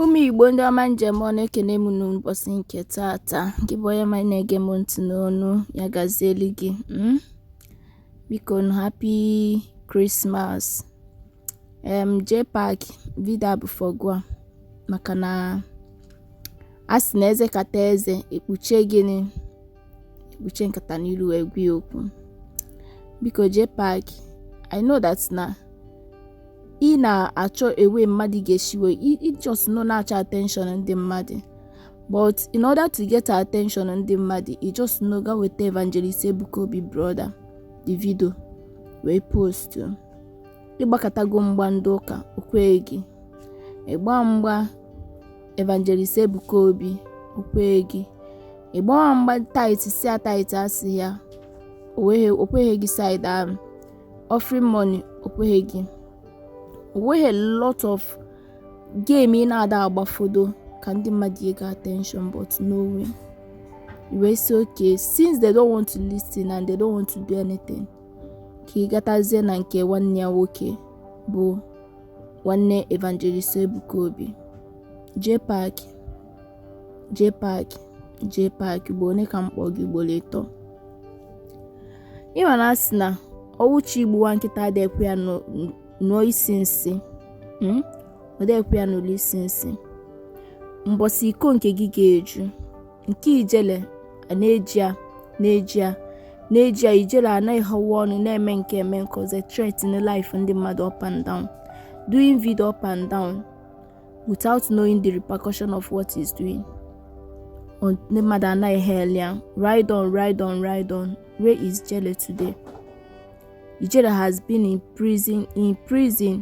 ụmụ igbo ndị ọma ndeewonụ ekene m unu n'ụbọsị nke taata gị bụ onye ọma na-ege m ntị n'onu ya gazieli gị hmm? bikonụ happy krismas um JPAC vidio a bụ for gịwa maka na a sị na ezekata eze ekpuche gịnị ekpuche nkata n'ilu wee gwa ya okwu biko JPAC I know that na ị na-achọ way mmadụ ga-esi wee ị just nọ na-achọ attention ndị mmadụ but in order to get attention ndị mmadụ ị just nọ gaa weta evangelist ebuka obi brother the video wee post ị gbakatago mgba ndị ụka okweghị gị ịgba mgba evangelist ebuka obi okweghị gị ịgbawa mgba tithe si a tithe asị ya okweghị gị seed ahụ offering money okweghị gị o nwee a lot of game ị na-ada agbafodo ka ndị mmadụ get attention but no way ị wee sị okay since they don't want to listen and they don't want to do anything ka ị gatazie na nke nwanne ya nwoke bụ nwanne Evangelist Ebuka Obi JPAC JPAC JPAC ugboro one ka m kpọ gị ugboro ịtọ ị ma na a sị na ọnwụ chọ igbu nwa nkịta adị ekwe ya nụọ isi nsị hmm? ọ dị ekwe ya nụlụ isi nsị mbọsị iko nke gị ga-eju nke ijele a na-eji a na-eji a na-eji a ijele anaghị họwa ọnụ na-eme nke a eme nke ọzọ threaten life ndị mmadụ up and down doing video up and down without knowing the repercussion of what he's doing ndị mmadụ ana-ehail ya ride on ride on ride on where is ijele today ijele has been in prison in prison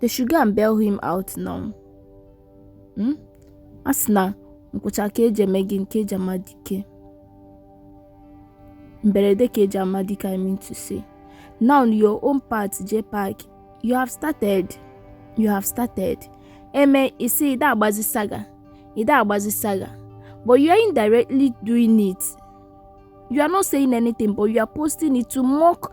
they should go and bail him out now hmm? a sị na nkwụcha ka eji eme gịnị ka eji ama dike mberede ka eji ama dike i mean to say now your own part JPAC you have started you have started eme isi ide agbazi saga ide agbazi saga but you are indirectly doing it you are not saying anything but you are posting it to mock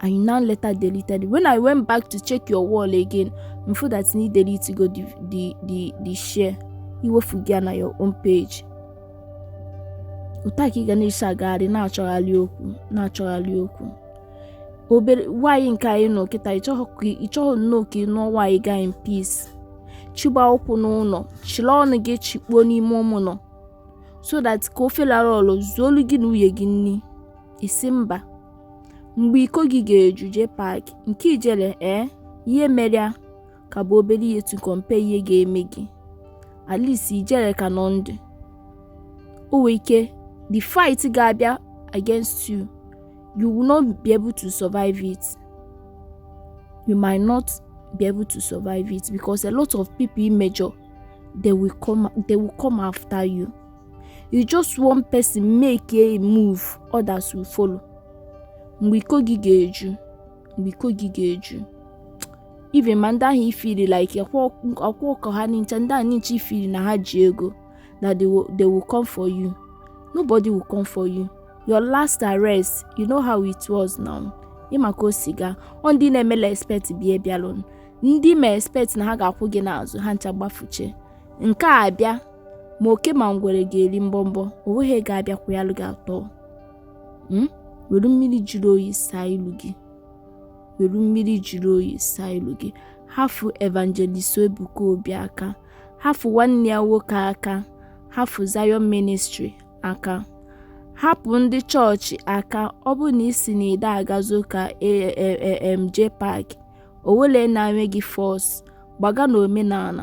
and you now later deleted it. When I went back to check your wall again, m fụ na ị deletego the the the the share i wefugo ya na your own page. Otu a ka ị ga na-esi agagharị na-achọgharị okwu na-achọgharị okwu obere nwaanyị nke a ị nụ kịta ị chọghị nnọọ ka ị nụọ nwaanyị gị a in peace chịgba ụkwụ n'ụnọ chịla ọnụ gị chịkpuo n'ime ụnọ so that ka ofe lara ọlụ zuolu gị na nwunye gị nri isi mba mgbe iko gị ga-eju Jpac nke ijele ee ihe mere ya ka bụ obere ihe to compare ihe ga-eme gị at least ijele ka nọ ndụ o nwee ike the fight ga-abịa against you you will not be able to survive it you might not be able to survive it because a lot of people i mejọ they will come they will come after you you just one person make a move others will follow mgbe iko gị ga-eju mgbe iko gị ga-eju even ma ndị ahụ i feel like ọkwa ọkọ ha n'incha ndị ahụ n'incha i feel na ha ji ego na they will, they will come for you nobody will come for you your last arrest you know how it was now ị ma ka o si gaa ọ ndị na-emela expect bịa bịalụ ndị ma expect na ha ga-akwụ gị n'azụ ha ncha gbafuche nke a bịa ma oke ma ngwere ga-eri mbọmbọ o nweghị ga-abịakwa ya gị atọ hmm? were mmiri jiri oyi saa ilu gị were mmiri jiri oyi saa ilu gị hafu Evangelist Ebuka Obi aka hafu nwanne ya nwoke aka hafu Zion Ministry aka hapụ ndị chọọchị aka ọ bụ na ị sị na ị de agazi ụka Jpac o wele na-enye gị force gbaga na omenala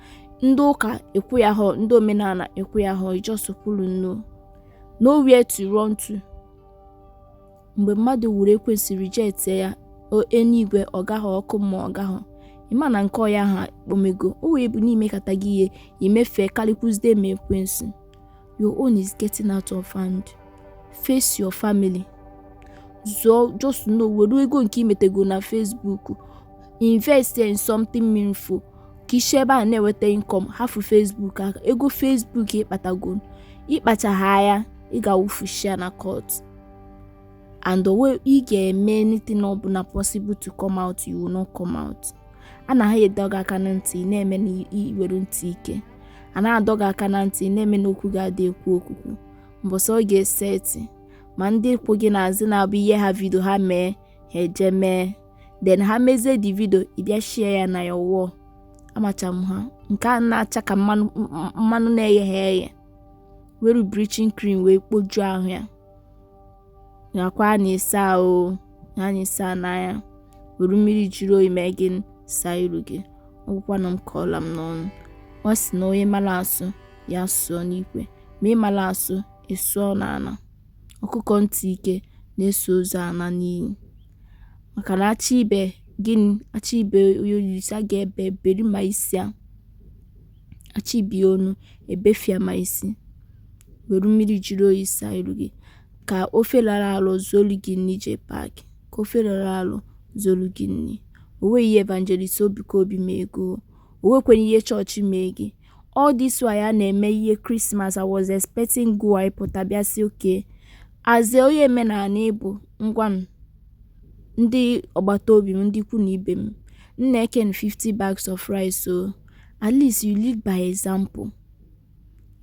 ndị ụka ekwe ya ha ndị omenala ekwe ya ha just kwụrụ nnọọ nowhere to run to mgbe mmadụ nwụrụ ekwensu rejectie ya eluigwe ọ gaghị ọkụ mmụọ ọ gaghị ị ma na nke onye ahụ kpomego o wee bụ n'i mekata gị ihe i mefee karịkwuzide ma ekwensu your own is getting out of hand face your family zụọ just know were ego nke i metego na Facebook invest in something meaningful ka i si ebe a na-enweta income hafụ Facebook aka ego Facebook ị kpatago ị kpachaghị anya ị ga-awụfucha ya na court and the way ị ga-eme anything ọbụla possible to come out you will not come out a na ha adọ gị aka na ntị na-eme na i nwere ntị ike a na-adọ gị aka na ntị na-eme na okwu ga-adị ekwu okwukwu mbọsị ọ ga-eseti ma ndị kwụ gị n'azụ na-abụ ihe ha video ha mee ha eje mee then ha mezie the video ị bịa share ya na your wall amacha m ha nke a na-acha ka mmanụ na-egheha eghe were bleaching cream wee kpojuo ahụ ya nakwa a na-esa ahụ na-esa n'anya were mmiri jiri oyi mee gị saa iru gị ọ gwụkwanụ ka ọ la m n'ọnụ ọ sị na onye mara asụ ya sụọ n'ikwe ma ị mara asụ ị sụọ n'ana ọkụkọ ntị ike na-eso ozu ana n'ini maka na a chọ ibe gịnị a chọ ibe oyisa ga-ebe eberi ma isi a chọ ibe onu ebefia ma isi were mmiri jiri oyi saa iru gị ka ofe rara alụ zolu gị nri Jpac ka ofe rara alụ zolu gị nri o nwe ihe evangelist Ebuka Obi mee gị o nwekwenụ ihe chọọchị mee gị All this while a na-eme ihe Christmas, I was expecting gị ịpụta bịa sị, okay, as a onye omenala ị bụ, ngwanụ, ndị agbata obi m, ndị ikwu na ibe m, m na-eke unu 50 bags of rice, so at least you lead by example.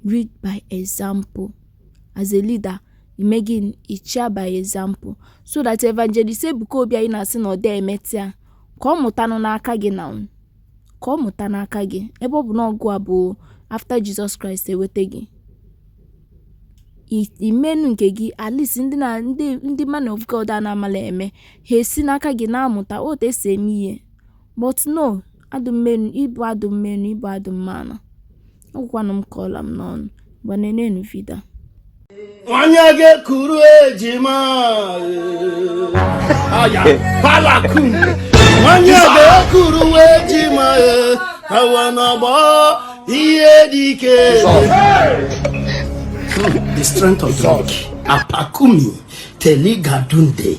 Lead by example. As a leader, i mee gịnị, chịa by example. So that Evangelist Ebuka Obi anyị na-asị na ọ dị emeta ya, ka ọ mụtanụ n'aka gị now. ka ọ mụta n'aka gị ebe ọ bụ na ọ gịwa bụ after Jesus Christ ewete gị i meenụ nke gị at least ndị na ndị ndị man of God a na-amala eme ha esi n'aka gị na-amụta otu esi eme ihe but no adụmmenu ị bụ adụmmenu ị bụ adụmmanụ Ekwukwanụ m ka ọ la m n'ọnụ, ngwa nenenu vidio a. Onye ga-ekuru ejima aya palakun onye ga-ekuru ejima awa n'ọgbọ ihe dị ike the strength of the weak apakumi teligadunde